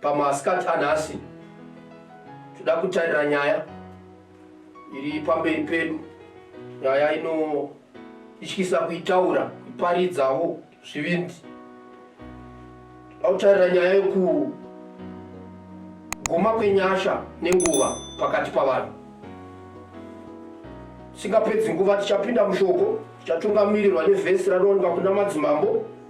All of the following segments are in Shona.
Pamasikati anhasi toda kutarira nyaya iri pamberi pedu, nyaya inotyisa kuitaura, kuparidzawo zvivindi. Toda kutarira nyaya yekuguma kwenyasha nenguva pakati pavanhu. Singapedzi nguva tichapinda mushoko, tichatungamirirwa nevhesi ranowanikwa kuna madzimambo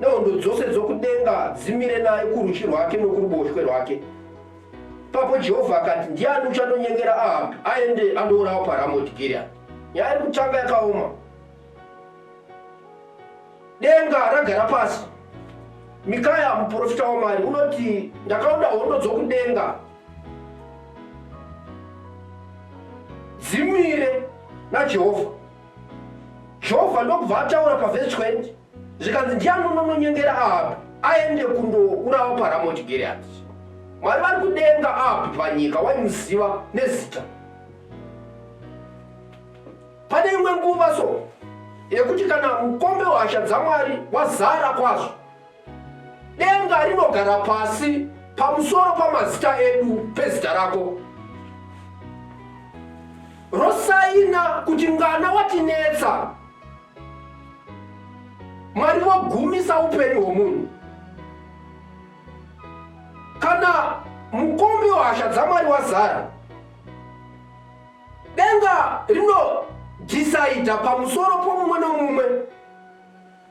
nehondo dzose dzokudenga dzimire naye kurudyi rwake nokuruboshwe rwake papo jehovha akati ndiani uchandonyengera ahabhi aende andourawa paramoti giriani nyaya iri kutanga yakaoma denga ragara pasi mikaya muprofita wamwari unoti ndakaona hondo dzokudenga dzimire najehovha jehovha ndokubva ataura pavhesi 20 zvikanzi ndiani unononyengera ahabi aende kundourawa paramoti giriati mwari vari kudenga ahabi panyika waimuziva nezita pane imwe nguva so yekuti kana mukombe wehasha dzamwari wazara kwazvo denga rinogara pasi pamusoro pamazita edu pezita rako rosaina kuti ngana watinetsa mwari vogumisa upenyu hwomunhu kana mukombi wehasha dzamwari wazara denga rinodhisaidha pamusoro pomumwe nomumwe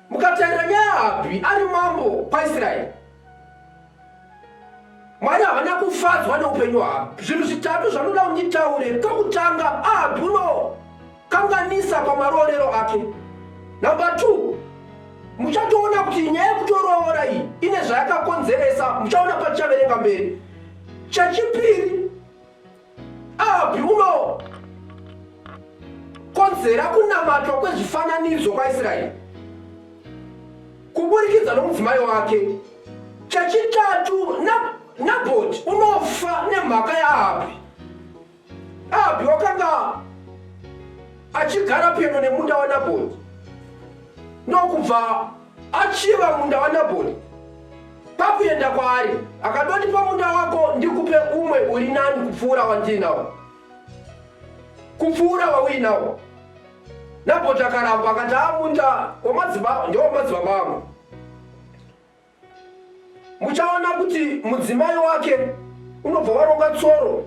mukatarira nyaya habhi ari mambo paisraeri mwari havana kufadzwa neupenyu havo zvinhu zvitatu zvanoda kunditaure kekutanga ahabuno kanganisa pamaroorero ake numbe t muchatoona kuti nyaya yekutoroora iyi ine zvayakakonzeresa muchaona patichaverenga mberi chechipiri Api uno konzera kunamatwa kwezvifananidzo kwaIsraeri kuburikidza nomudzimai wake. Chechitatu, Nabhoti unofa nemhaka yaAbhi. Abhi wakanga achigara pedo nemunda waNabhoti ndokubva Achiva munda waNabhori. Pakuenda kwaari akadoti, Pamunda wako ndikupe umwe uri nani kupfuura wandiinawo, kupfuura wauinawo. Nabhoti akaramba akati, Haa, ah, munda wamadzibaba ndewamadzibaba angu. Muchaona kuti mudzimai wake unobva waronga tsoro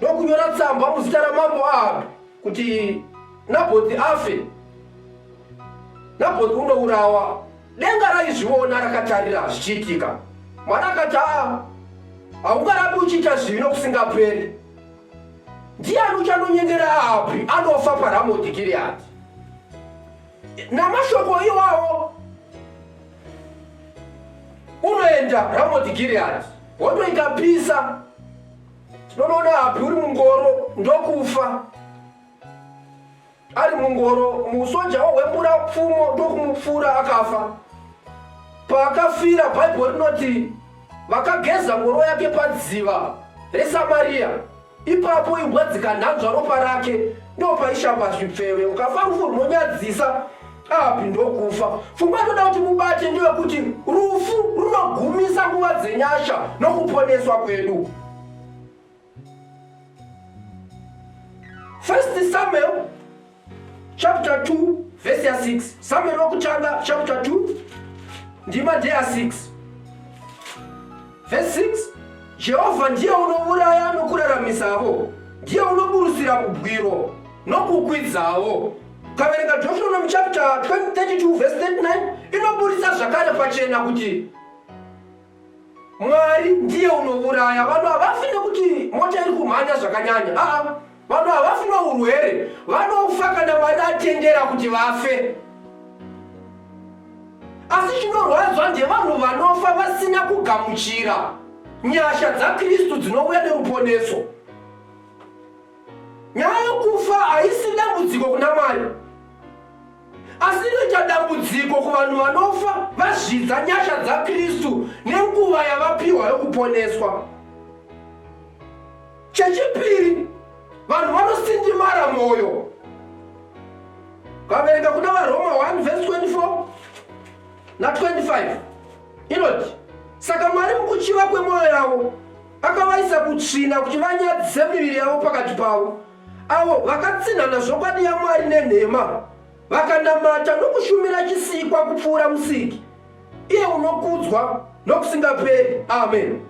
nokunyora tsamba muzita ramambo Ahabhi kuti Nabhoti afe. Nabhoti unourawa. Denga raizviona rakatarira zvichiitika. Mwana akati, aa haungarapi uchiita zvivi nokusingaperi. Ndiani uchanonyengera Ahabhi anofa paRamoti Gireadhi? Namashoko iwawo unoenda Ramoti Gireadhi, hondo ikapisa Tinonoda hapi uri mungoro ndokufa ari mungoro musoja wohwembura pfumo ndokumupfuura akafa paakafira bhaibheri rinoti vakageza ngoro yake padziva resamariya ipapo imbwa dzikanhanzva ropa rake ndopaishamba zvipfeve ukafa rufu runonyadzisa api ndokufa pfungwa inoda kuti mubate ndeyekuti rufu runogumisa nguva dzenyasha nokuponeswa kwedu first samuel chapter 2 vhesi ya 6 samuel wokutanga chapter 2 ndima ndeya 6 vhesi 6 jehovha ndiye unouraya nokuraramisavo ndiye unoburusira kubwiro nokukwidzawo Ukaverenga Deuteronomy chapter 20:32 verse 39 inoburitsa zvakare pachena kuti Mwari ndiye unouraya. Vanhu havafi nekuti mota iri kumhanya zvakanyanya. Aa, vanhu havafi nourwere, vanofa kana Mwari atendera kuti vafe. Asi chinorwadzwa ndevanhu vanofa vasina kugamuchira nyasha dzaKristu dzinouya neruponeso. Nyaya yokufa haisi dambudziko kuna Mwari, asi inoita dambudziko kuvanhu vanofa vazvidza nyasha dzaKristu nenguva yavapiwa yokuponeswa. Chechipiri, vanhu vanosindimara mwoyo. Kaverenga kuna vaRoma 1 vhesi 24 na 25 inoti, Saka Mwari mukuchiva kwemwoyo yavo Akavaisa kutsvina kuti vanyadzise miviri yavo pakati pavo, avo vakatsinhana zvokwadi yaMwari nenhema, vakanamata nokushumira chisikwa kupfuura Musiki, iye unokudzwa nokusingaperi. Ameni.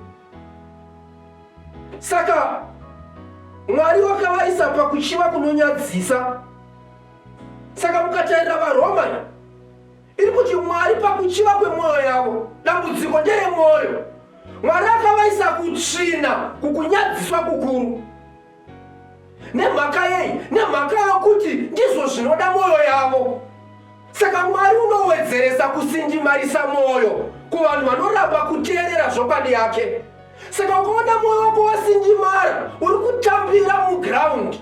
Saka Mwari wakavaisa pakuchiva kunonyadzisa. Saka mukatarira vaRoma iri kuti Mwari pakuchiva kwemwoyo yavo, dambudziko nderemwoyo. Mwari akavaisa kutsvina kukunyadziswa kukuru. Nemhaka yei? Nemhaka yokuti ndizvo zvinoda mwoyo yavo. Saka Mwari unowedzeresa kusinjimarisa mwoyo kuvanhu vanoramba kuteerera zvokwadi yake. Saka ukaona mwoyo wako wasinjimara, uri kutambira mugiraundi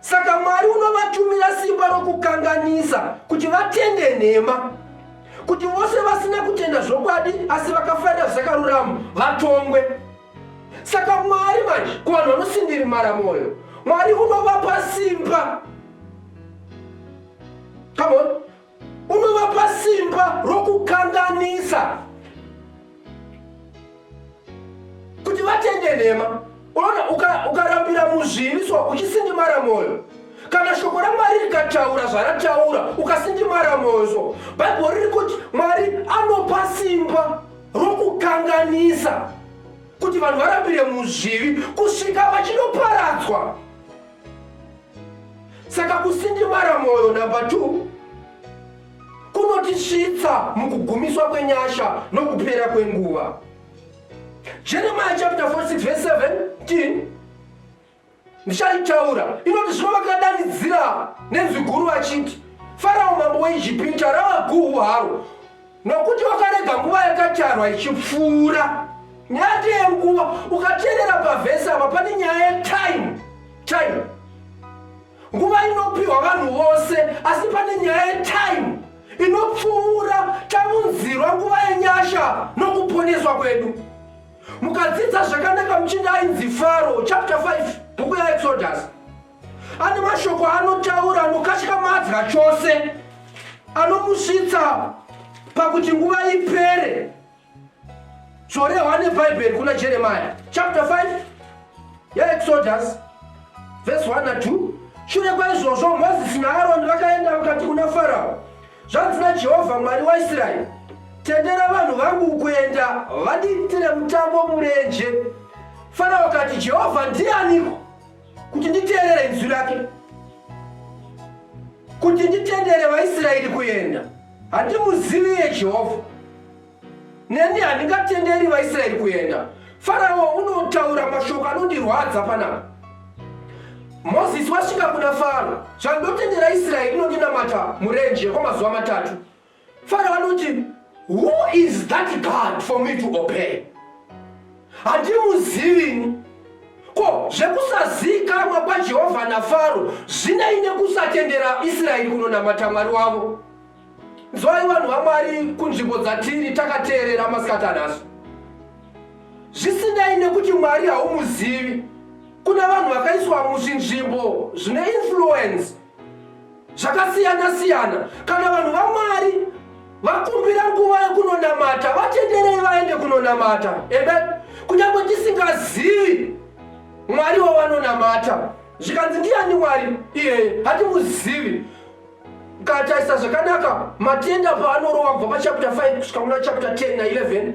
Saka Mwari unovatumira simba rokukanganisa kuti vatende nhema, kuti vose vasina kutenda zvokwadi asi vakafarira zvakarurama vatongwe. Saka Mwari manje kuvanhu vanosindirimara mwoyo, Mwari unovapa simba. Come on. unovapa simba rokukanganisa kuti vatende nhema unoona ukarambira uka muzvivi so uchisindimara mwoyo kana shoko ramwari rikataura zvarataura ukasindimara mwoyo so bhaibheri riri kuti mwari anopa simba rokukanganisa kuti vanhu varambire muzvivi kusvika vachinoparadzwa saka kusindimara mwoyo number 2 kunotisvitsa mukugumiswa kwenyasha nokupera kwenguva jeremiya chapter 46 verse 17 ndichaitaura inoti zvino vakadanidzira nenzwi guru vachiti farao mambo weijipita rava guhu haro Nokuti wakarega nguva yakatarwa ichipfuura. Nyaya ndeyenguva. Ukateerera pavhesi apa pane nyaya yetime. Time. Nguva inopiwa vanhu vose, asi pane nyaya yetime inopfuura taunzirwa nguva yenyasha nokuponeswa kwedu. Mukadzidza zvakanaka muchinda ainzi Faro, chapter 5, bhuku yaExodus. Ane mashoko anotaura anokashika madza chose anomusvitsa pakuti nguva ipere zvorehwa nebhaibheri kuna jeremia chapter 5 yaexodus vhesi 1 na 2 shure kwaizvozvo mozisi naaroni vakaenda vakati kuna farao zvanzi najehovha mwari waisraeri tendera vanhu vangu kuenda vadiitire mutambo murenje farao akati jehovha ndianiko kuti nditeerere inzwi rake, kuti nditendere vaIsraeri kuenda. Handimuzivi iye Jehovha, neni handingatenderi vaIsraeri kuenda. Farao unotaura mashoko anondirwadza panapa. Mozisi wasvika kuna Faro, zvandotendera Israeri inondinamata murenje kwamazuva matatu. Faro anoti who is that God for me to obey? Handimuzivi. Ko zvekusazivikanwa kwaJehovha naFaro zvinei nekusatendera Israeri kunonamata Mwari wavo? Nzwai vanhu vaMwari kunzvimbo dzatiri takateerera masikati anasu. Zvisinei nekuti Mwari haumuzivi, kuna vanhu vakaiswa muzvinzvimbo zvine influence zvakasiyana-siyana. Kana vanhu vaMwari vakumbira nguva yekunonamata, vatenderei vaende kunonamata. Amen. Kunyange tisingazivi Mwari wavanonamata, zvikanzi ndiani Mwari iyeye, hatimuzivi kataisa zvakanaka matenda paanorova kubva pachapter 5 kusvika kuna chapter 10 na11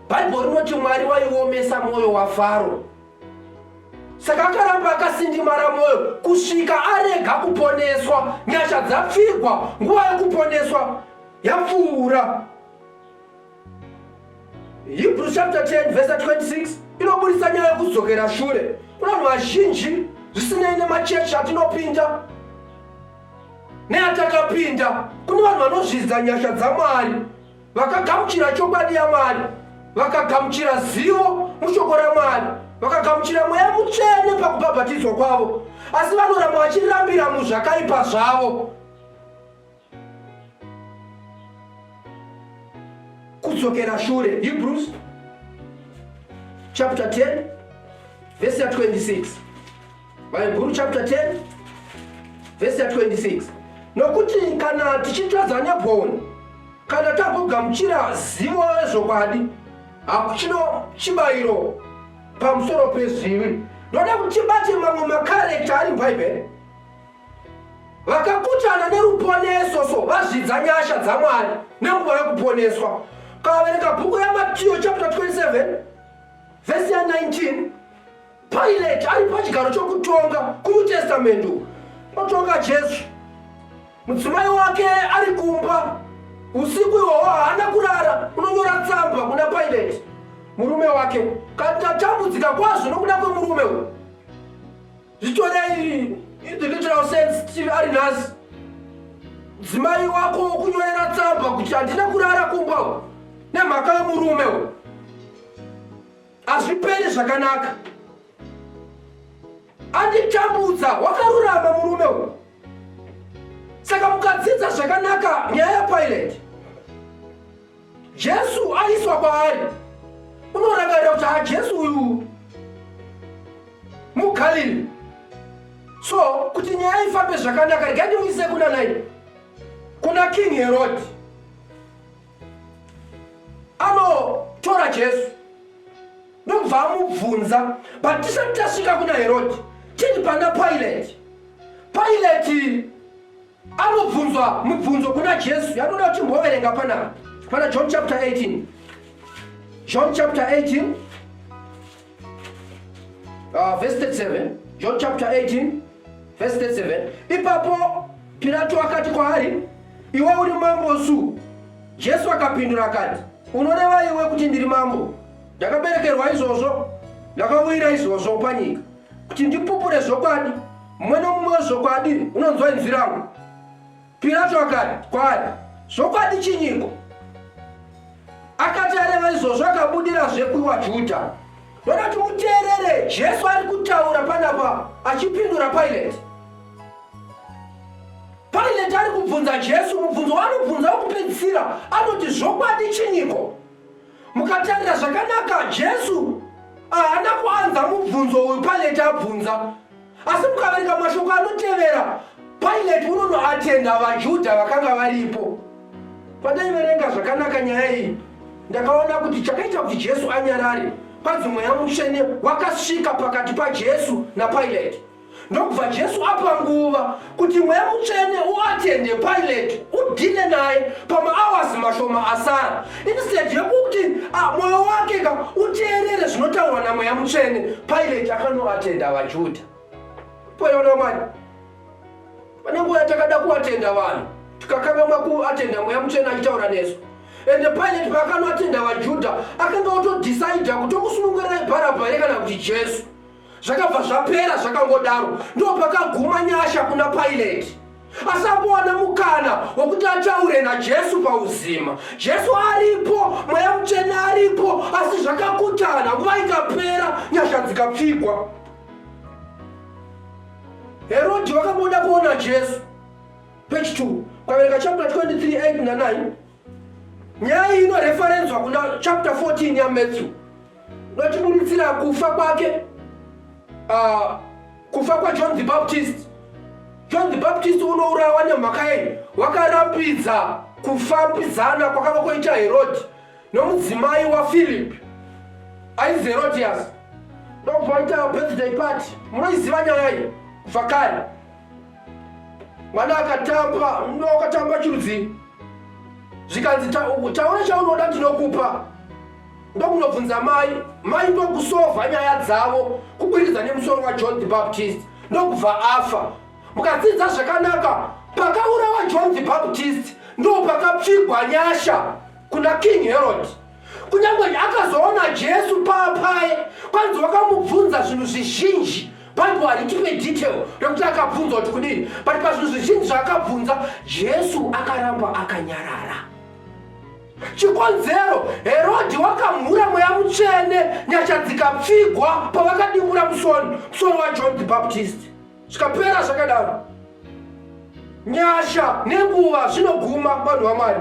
bhaibheri rinoti mwari waiomesa mwoyo wafaro saka akaramba akasindimara mwoyo kusvika arega kuponeswa nyasha dzapfigwa nguva yokuponeswa yapfuura hebrews chapter 10 verse 26 inoburitsa nyaya yokudzokera shure kuna vanhu vazhinji zvisinei nemachechi atinopinda neatakapinda kune vanhu vanozvidza nyasha dzamwari Vakagamuchira chokwadi yaMwari, vakagamuchira zivo mushoko raMwari, vakagamuchira mweya mutsvene pakubhabhatidzwa kwavo, asi vanoramba vachirambira muzvakaipa zvavo. Kudzokera shure, Hebrews chapter 10 verse 26. Bhaibhuru chapter 10 vhesi ya 26 nokuti kana tichitadza negoni kana tagogamuchira zivo rezvokwadi hakuchino chibayiro pamusoro pezvivi ndoda kuti bate mamwe makarekta ari mubhaibheri vakakutana neruponeso so vazvidza nyasha dzamwari nenguva yekuponeswa kavaverenga bhuku yamatiyo chapter 27 vhesi ya 19 Pilate ari pachigaro chokutonga kuNew Testament otonga Jesu. Mudzimai wake ari kumba usiku ihwohwo haana kurara, unonyora tsamba kuna Pilate murume wake kati atambudzika kwazvo nokuda kwemurume uyu. Zvitorei the literal sense tiri ari nhasi. Mudzimai wako wokunyorera tsamba kuti handina kurara kumba nemhaka yomurume uyu. Hazviperi zvakanaka. Anditambudza wakarurama murume uyu. Saka mukadzidza zvakanaka nyaya yaPilate. Jesu aiswa kwaari. Unorangarira kuti haJesu uyu muGalili. So kuti nyaya ifambe zvakanaka regai ndimuise kuna nai. Kuna King Herod. anotora Jesu ndobva amubvunza but tisati tasvika kuna Herodi tiri pana Pilate. Pilate anobvunzwa mubvunzo kuna Jesu yanoda kuti mboverenga pana pana John chapter 18 John chapter 18 Uh, verse 37 john chapter 18 verse 37 ipapo pirato akati kwaari iwe uri mambo su jesu akapindura akati unoreva iwe kuti ndiri mambo ndakaberekerwa izvozvo ndakauyira izvozvo panyika kuti ndipupure zvokwadi mumwe nomumwe wezvokwadi unonzwa inzwi rangu Pirato akati kwaari, Zvokwadi chinyiko? Akati areva izvozvo akabudirazve kuvaJudha. Ndoda kuti muteerere Jesu ari kutaura panapa achipindura Paireti. Paireti ari kubvunza Jesu mubvunzo waanobvunza wokupedzisira anoti zvokwadi chinyiko? Mukatarira zvakanaka Jesu haana kuanza mubvunzo uyu Paireti abvunza. asi mukaverenga mashoko anotevera pilate unonoatenda vajudha vakanga varipo pandaiverenga zvakanaka nyaya iyi ndakaona kuti chakaita kuti jesu anyarare kwanzi mweya mutsvene wakasvika pakati pajesu napilate ndokubva jesu apa nguva kuti mweya mutsvene uatende pilate udhile naye pamaawazi mashoma asara instead yekuti ah, mwoyo wake ka uteerere zvinotaurwa namweya mutsvene pilate akanoatenda vajudha poiona mani pane nguva yatakada kuatenda vanhu tikakangamwa kuatenda mweya mutsvene achitaura nesu ende pilate paakanoatenda vajudha akanga otodhisaidha kuti omusunungurirai bharabhari kana kuti jesu zvakabva zvapera zvakangodaro ndopakaguma nyasha kuna paileti asambowana mukana wekuti ataure najesu pauzima jesu aripo mweya mutsvene aripo asi zvakakutana nguva ikapera nyasha dzikapfigwa herodhi vakamboda kuona jesu page 2 kwavereka chapter 23 8 na 9 Nyaya iyi inoreferenzwa kuna chapter 14 yaMatthew notiburitsira kufa kwake uh, kufa kwajohn the baptist john the baptist unourawa nemhaka yenyu wakarapidza kufambidzana kwakava kwoita herodi nomudzimai wafilip ainzi herodias ndokubva aita birthday party munoiziva nyaya iyi vhakare mwana akatamba mno wakatamba chirudzii zvikanzi taura chaunoda ndinokupa ndokunobvunza mai mai ndokusova nyaya dzavo kuburikidza nemusoro wajohn the baptist ndokubva afa mukadzidza zvakanaka pakaurawa john the baptist ndopakapfigwa nyasha kuna king herod Kunyange akazoona Jesu paapaye, kwanzi wakamubvunza zvinhu zvizhinji. Bible haritipe detail rekuti akabvunzwa kuti kudini, but pazvinhu zvizhinji zvaakabvunza, Jesu akaramba akanyarara. Chikonzero, Herodhi wakamhura mweya mutsvene, nyasha dzikapfigwa pavakadimura musoni, musoni waJohn the Baptist. Zvikapera zvakadaro. Nyasha nenguva zvinoguma vanhu vaMwari.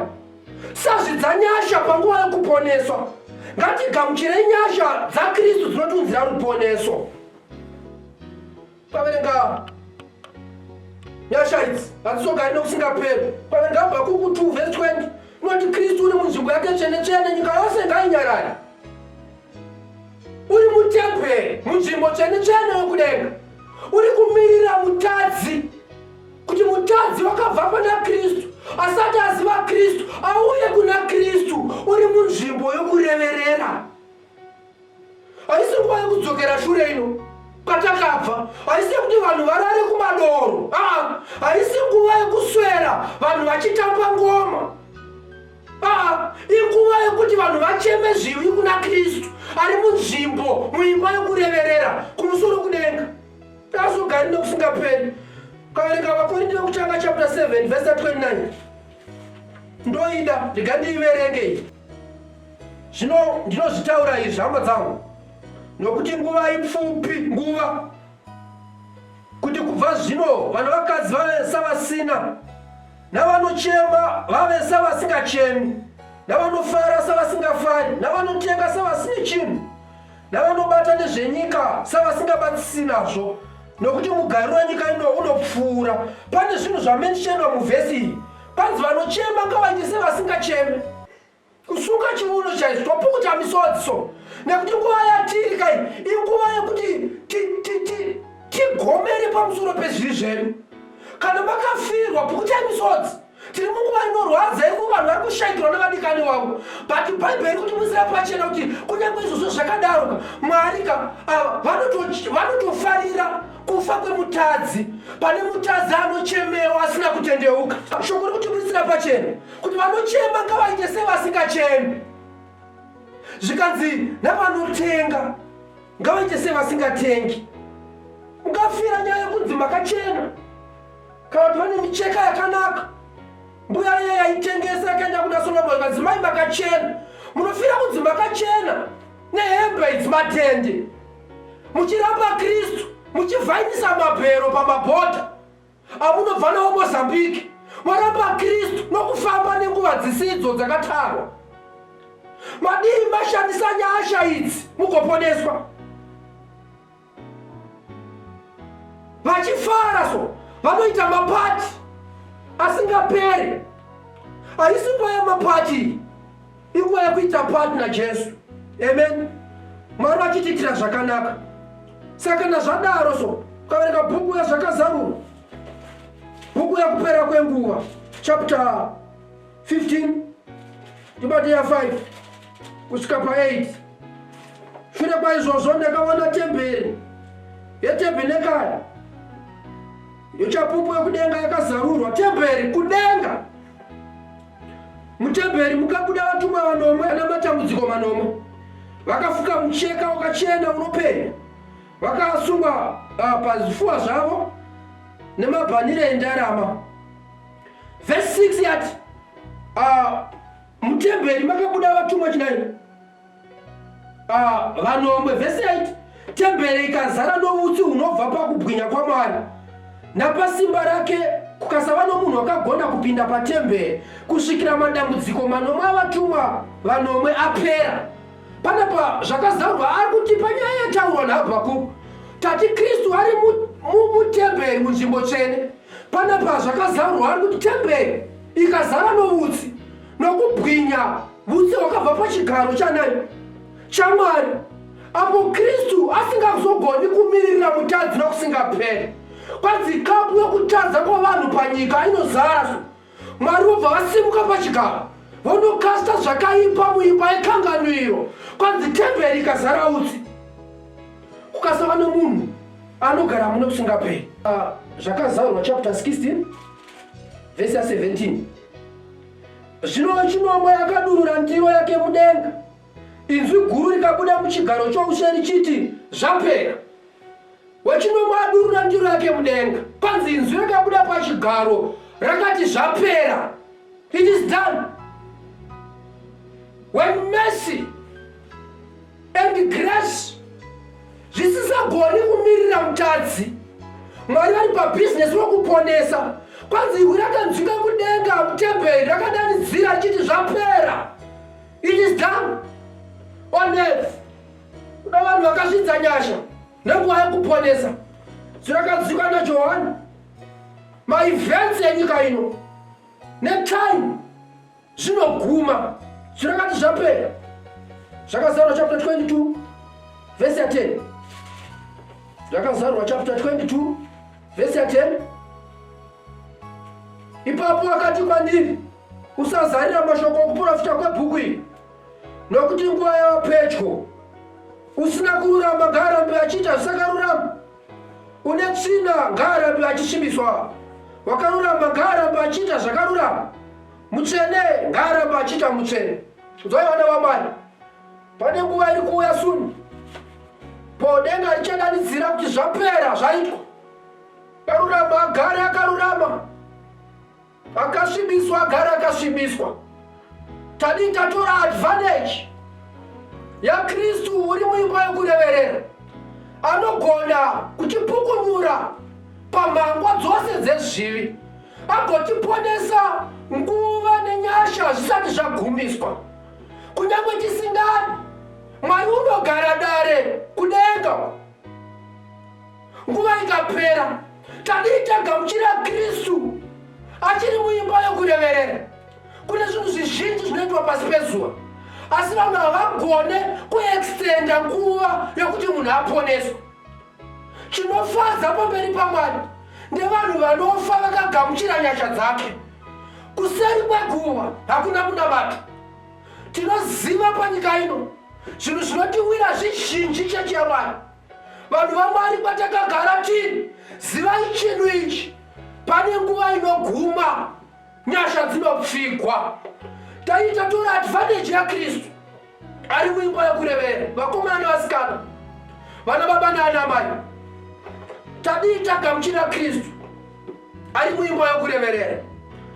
Sazvi dzanyasha panguva yokuponeswa, ngatigamuchirei nyasha dzaKristu dzinotiunzira ruponeso. Paverenga nyasha idzi hadzizogari nokusingaperi. Paverenga Habhakuku 2 vhesi 20 inoti Kristu uri munzvimbo yake tsvene tsvene, nyika yose ngainyarare. Uri mutemberi, munzvimbo tsvene tsvene yokudenga, uri kumirira mutadzi kuti mutadzi wakabva pana kristu asati aziva kristu auye kuna kristu uri munzvimbo yokureverera haisi nguva yokudzokera shure ino kwatakabva haisi yekuti vanhu varare kumadoro aa haisi nguva yokuswera vanhu vachitamba ngoma aa inguva yokuti vanhu vacheme zvivi kuna kristu ari munzvimbo muimba yokureverera kumusoro kudenga Tasvu gari nokufunga peri. Kaverenga vakorinde vekutanga chapter 7 verse 29. Ndoida ndiga ndiiverenge. Zvino ndinozvitaura izvi hama dzangu. Nokuti nguva ipfupi nguva kuti kubva zvino vanhu vakadzi vave savasina navanochema vave savasingachemi navanofara savasingafari navanotenga savasine chinhu navanobata nezvenyika savasingabatisisi nazvo nokuti mugariro wenyika ino unopfuura pane zvinhu zvamentionwa muvhesi iyi panzi vanochema ngavaite sevasingacheme kusunga chiuno chaizvo topukuta misodzi so nekuti nguva yatiri kai inguva yekuti tigomere pamusoro pezviri zvedu kana makafirwa pukutai misodzi tiri munguva inorwadza yekuti vanhu vari kushaikirwa nevadikani wavo but bhaibheri kuti musira pachena kuti kunyange izvozvo zvakadaroka mwarika ah, vanotofarira kufa kwemutadzi pane mutadzi anochemewa asina kutendeuka shoko ri kuti musira pachena kuti vanochema ngavaite sevasingachemi zvikanzi navanotenga ngavaite sevasingatengi mukafira nyaya yekunzi makachena Kana pane micheka yakanaka mbuya iya yaitengesa yakaenda kuna Solomon madzimai makachena munofira kunzi makachena nehembe idzi matende muchiramba Kristu muchivhainisa mabhero pamabhodha amunobva nawo Mozambique moramba Kristu nokufamba nenguva dzisidzo dzakatarwa madii mashandisa nyasha idzi mugoponeswa vachifara so vanoita mapati asingaperi haisi nguva yemapati inguva yekuita pati najesu amen mwari vachitiitira zvakanaka saka kana zvadaro so ukaverenga bhuku yazvakazarurwa bhuku yekupera kwenguva chapter 15 tibate ya 5 kusvika pa 8 shure kwaizvozvo ndakaona temberi yetebhenekari yochapupu yokudenga yakazarurwa temberi kudenga mutemberi mukabuda vatumwa vanomwe ana matambudziko manomwe vakafuka mucheka wakachena unopenya vakasungwa uh, pazvifuwa zvavo nemabhanire endarama Verse 6 yati uh, mutemberi makabuda vatumwa chinaini uh, ah, vanomwe. Verse 8 temberi ikazara noutsi hunobva pakubwinya kwaMwari napasimba rake kukasava nomunhu akagona kupinda patemberi kusvikira madambudziko manomwe avatumwa vanomwe apera. Panapa zvakazarwa ari kuti panyaya yataurwa naHabhakuku tati Kristu ari mutemberi munzvimbo tsvene Panapa zvakazarurwa ari kuti temberi ikazara noutsi nokubwinya utsi hwakabva pachigaro chanani chamwari apo kristu asingazogoni kumiririra mutadzi nokusingapere kwanzi kapu yokutadza kwavanhu panyika inozara Mwari vobva vasimuka pachigaro vonokasta zvakaipa muimba yekanganwiro kwanzi temberi ikazara utsi kukasava nomunhu anogara muno kusingaperi ah, zvakazaurwa chapter 16 vhesi ya 17 zvino chinomwe yakadurura ndiro yake mudenga inzwi guru rikabuda muchigaro choushe richiti zvapera Wechinomwe adurura ndiro yake mudenga, panzi inzwi rakabuda pachigaro rakati, Zvapera! It is done! When mercy and grace zvisisagoni kumirira mutadzi, Mwari vari pabhizinesi rokuponesa. Kwanzi iwe rakanzwika kudenga mutemberi rakadanidzira chiti zvapera. It is done on earth. Kuda vanhu vakazvidza nyasha nenguva yekuponesa zvirakadziwika najohani maevents enyika ino netime zvinoguma zvirakati zvapera zvakazarwa chapter 22 vhesi ya 10 zvakazarwa chapter 22 vhesi ya 10 ipapo akati kwandiri usazarira mashoko okuprofita kwebhuku iri nokuti nguva yava pedyo. Usina kururama ngaarambe achiita zvisakarurama, une tsvina ngaarambe achisvibiswa, wakarurama ngaarambe achiita zvakarurama, mutsvene ngaarambe achiita mutsvene. Udzwai vana vamwari, pane nguva iri kuuya suni po denga richadanidzira kuti zvapera zvaitwa, karurama agare akarurama. Akasvibiswa agara akasvibiswa. Tadii tatora advantage yaKristu uri muimba yokureverera anogona kutipukunyura pambangwa dzose dzezvivi agotiponesa nguva nenyasha zvisati zvagumiswa kunyange tisingani mwari unogara dare kudenga Nguva ikapera, tadii tagamuchira Kristu achiri muimba yokureverera. Kune zvinhu zvizhinji zvinoitwa pasi pezuva, asi vanhu havagone kuextenda nguva yokuti munhu aponeswe. Chinofadza pamberi paMwari ndevanhu vanofa vakagamuchira nyasha dzake. Kuseri kweguva hakuna kunamata. Tinoziva panyika ino zvinhu zvinotiwira zvizhinji chechi yaMwari. Vanhu vaMwari kwatakagara tiri, zivai chinhu ichi, pane nguva inoguma nyasha dzinopfigwa. Taita tora advantage yaKristu ari muimba yokurevera, vakomana nevasikana, vana baba naanamai. Tadii tagamuchira Kristu ari muimba yokureverera,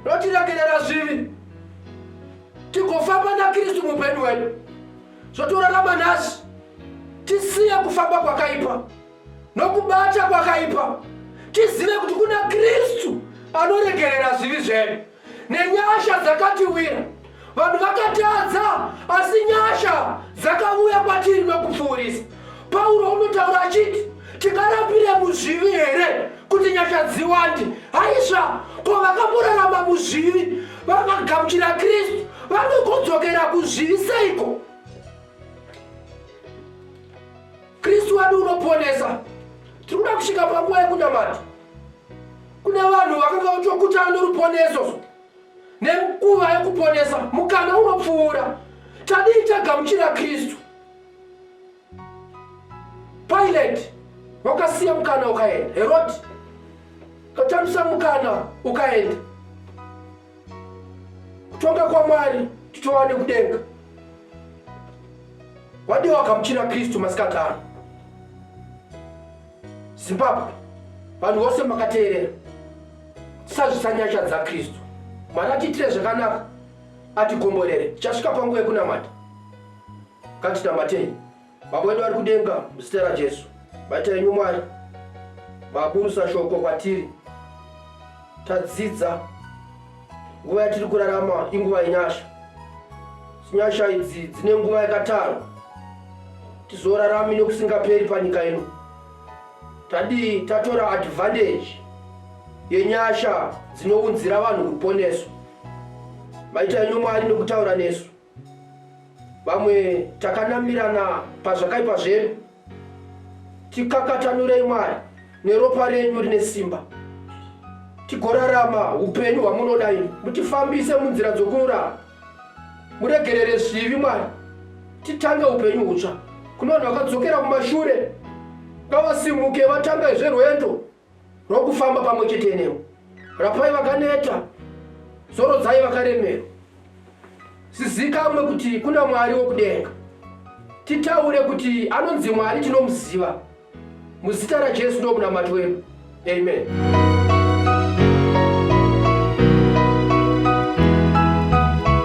rotiregerera zvivi tigofamba naKristu muupenyu hwedu. zvotorarama nhasi. Tisiye kufamba kwakaipa nokubata kwakaipa, tizive kuti kuna Kristu anoregerera zvivi zvedu nenyasha dzakatiwira. Vanhu vakatadza, asi nyasha dzakauya kwatiri nokupfuurisa. Pauro unotaura achiti tingarapire muzvivi here kuti nyasha dziwande? Haisva, ko vakamborarama muzvivi vakagamuchira Kristu vanogodzokera kuzvivi seiko? Kristu wadi unoponesa. Tiri kuda kusvika panguva yekunamata. Kune vanhu vakanga vachokutana noruponeso nenguva yekuponesa mukana unopfuura tadii tagamuchira kristu Pilate wakasiya mukana ukaenda. Herodi katambisa mukana ukaenda. Kutonga kwaMwari titowane kudenga. Wadii wagamuchira Kristu masikati ano? Zimbabwe, vanhu vose makateerera. Tisazvisa nyasha dzaKristu. Mwari atiitire zvakanaka, atigomborere. Tichasvika panguva yekunamata. Ngatinamatei. Baba wedu vari kudenga, muzita raJesu, batai imi Mwari maburusa shoko kwatiri. Tadzidza nguva yatiri kurarama inguva yenyasha. Nyasha idzi dzine nguva yakatarwa, tizorarami nekusingaperi panyika ino. Tadii tatora advantage yenyasha dzinounzira vanhu ruponeso. Maita imi Mwari nekutaura nesu. vamwe takanamirana pazvakaipa zvedu tikakatanurei mwari neropa renyu rine simba tigorarama upenyu hwamunoda ini mutifambise munzira dzokururama muregerere zvivi mwari titange upenyu hutsva kuno vanhu vakadzokera kumashure ngavasimuke vatangaizve rwendo rokufamba pamwe chete newe. Rapai vakaneta, zorodzai vakaremerwa. Sizikamwe kuti kuna Mwari wokudenga. Titaure kuti anonzi Mwari tinomuziva. Muzita raJesu ndomunamato wedu. Amen. Amen.